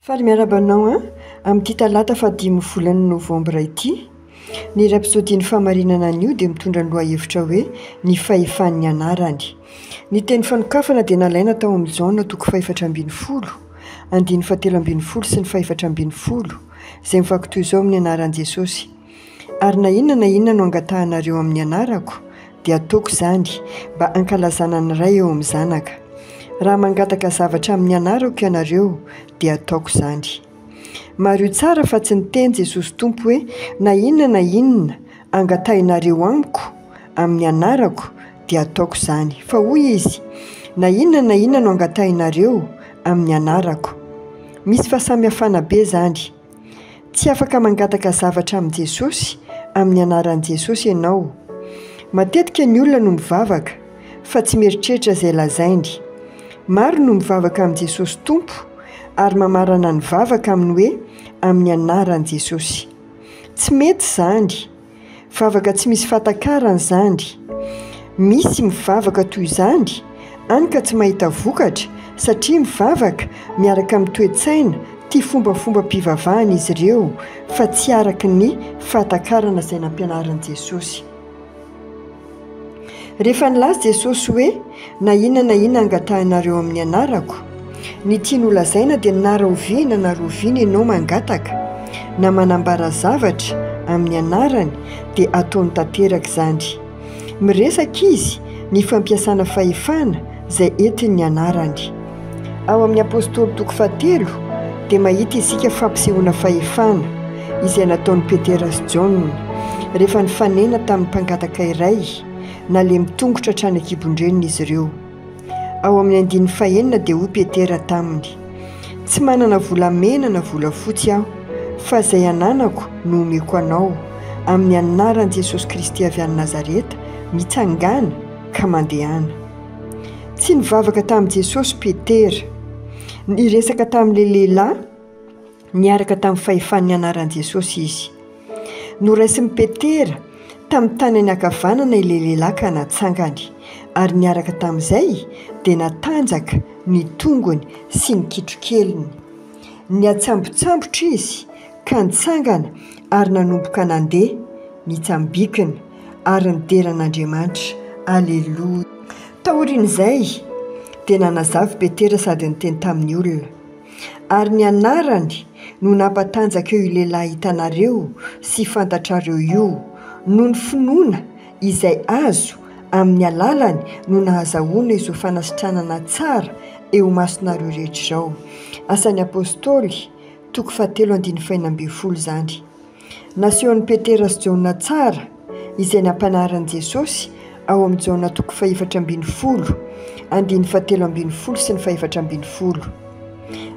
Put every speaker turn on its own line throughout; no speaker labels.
Faly miarahaba anao an! Amin'ity talata fahadimy volana novambra ity. Ny iray episodin'ny fahamarinana anio dia mitondra ny lohahevitra hoe ny fahefan'ny anarany. Ny teny fanokafana dia nalaina tao amin'ny Jaona toko fahefatra ambin'ny folo, andininy fahatelo ambin'ny folo sy ny fahefatra ambin'ny folo, izay mivaky toy izao amin'ny anaran'i Jesosy. Ary na inona na inona no angatahanareo amin'ny anarako, dia ataoko izany, mba hankalazana ny Ray eo amin'ny Zanaka. Raha mangataka zavatra amin'ny anarako ianareo, dia ataoko izany. Mariho tsara fa tsy niteny Jesosy Tompo hoe, Na inona na inona angatahinareo Amiko, amin'ny anarako, dia ataoko izany. Fa hoy Izy, Na inona na inona no angatahinareo, amin'ny anarako. Misy fahasamihafana be izany. Tsy afaka mangataka zavatra amin'i Jesosy amin'ny anaran'i Jesosy ianao. Matetika ny olona no mivavaka fa tsy mieritreritra izay lazainy. Maro no mivavaka amin'i Jesosy Tompo ary mamarana ny vavaka amin'ny hoe amin'ny anaran'i Jesosy. Tsy mety izany. Vavaka tsy misy fahatakarany zany. Misy mivavaka toy izany any ka tsy mahita vokatra satria mivavaka miaraka amin'ny toe-tsaina tia fombafombam-pivavahana izy ireo fa tsy araka ny fahatakarana izay nampianarin'i Jesosy. Rehefa nilaza Jesosy hoe, Na inona na inona angatahanareo amin'ny anarako, ny tiany holazaina dia na rahoviana na roviana ianao mangataka, na manambara zavatra, amin'ny anarany, dia ataony tanteraka izany. Miresaka izy ny fampiasana fahefana, izay entin'ny anarany. Ao amin'ny Apostoly toko fahatelo dia mahita isika fampisehoana fahefana izay nataon'i Petera sy Jaona rehefa nifanena tamin'ny mpangataka iray nalemy tongotra hatrany an-kibon-dreniny izy ireo. Ao amin'ny andininy fahenina dia hoy Petera taminy, Tsy manana volamena na volafotsy aho, fa izay ananako no omeko anao, amin'ny anaran'i Jesosy Kristy avy any Nazareta, mitsangàna, ka mandehana. Tsy nivavaka tamin'i Jesosy Petera. Niresaka tamin'ilay lehilahy niaraka tamin'ny fahefan'ny anaran'i Jesosy izy. Noraisin'i Petera tamin'ny tanany ankavanana ilay lehilahy ka natsangany, ary niaraka tamin'izay dia natanjaka ny tongony sy ny kitrokeliny. Niatsambotsambotra izy ka nitsangana ary nanomboka nandeha, nitsambikina. ary nidera an'Andriamanitra. Aleloia! Taorian'izay, dia nanazava i Petera sady niteny tamin'ny olona. Ary ny anarany no nampatanjaka eo io lehilahy hitanareo sy fantatrareo io, noho ny finoana izay azo amin'ny alalany no nahazahoana izao fanasitranana tsara eo imasonareo rehetra izao. Asan'ny Apostoly, toko fahatelo andininy fahenina ambin'ny folo izany. Nasehon'i Petera sy Jaona tsara izay nampianarin'i Jesosy ao amin'i Jaona toko fahefatra ambin'ny folo, andininy fahatelo ambin'ny folo sy ny fahefatra ambin'ny folo.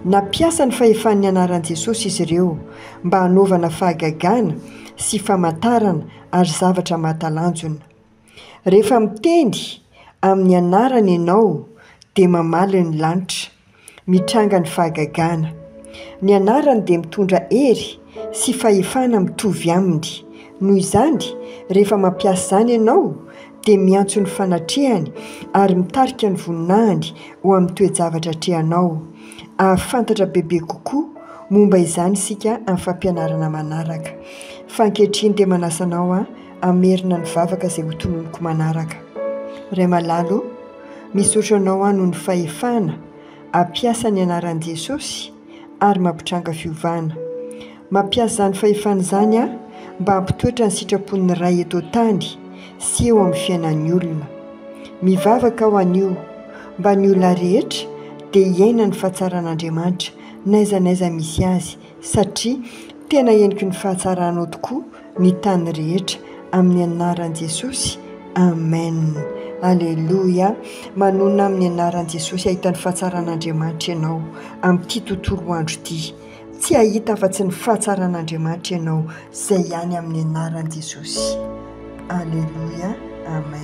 Nampiasa ny fahefan'ny anaran'i Jesosy izy ireo mba hanaovana fahagagana sy famantarana ary zavatra mahatalanjona. Rehefa miteny amin'ny anarany ianao dia mamaly ny lanitra. Mitranga ny fahagagana. Ny anarany dia mitondra hery sy fahefana mitovy aminy. Noho izany, rehefa mampiasa izany ianao, dia miantso ny fanatrehany ary mitarika ny voninahiny ho amin'ny toe-javatra atrehanao. Hahafantatra bebe kokoa momba izany isika amin'ny fampianarana manaraka. Fa ankehitriny dia manasa anao hamerina ny vavaka izay hotononiko manaraka. Ray malala ô! Misaotra anao aho noho ny fahefana hampiasa ny anaran'i Jesosy ary mampitranga fiovana. Mampiasa izany fahefana izany aho mba hampitoetra ny sitrapon'ny Ray eto an-tany sy eo amin'ny fiainan'ny olona. Mivavaka aho anio mba ny olona rehetra dia hiaina ny fahatsaran'Andriamanitra n'aiza n'aiza misy azy satria tena heniky ny fahatsaranao tokoa ny tany rehetra amin'ny anaran'i Jesosy Amen Aleloia manonona amin'ny anaran'i Jesosy hahita ny fahatsaran'Andriamanitra ianao amin'ity tontolo andro ity tsy hahita afa-tsy ny fahatsaran'Andriamanitra ianao izay ihany amin'ny anaran'i Jesosy Aleloia Amen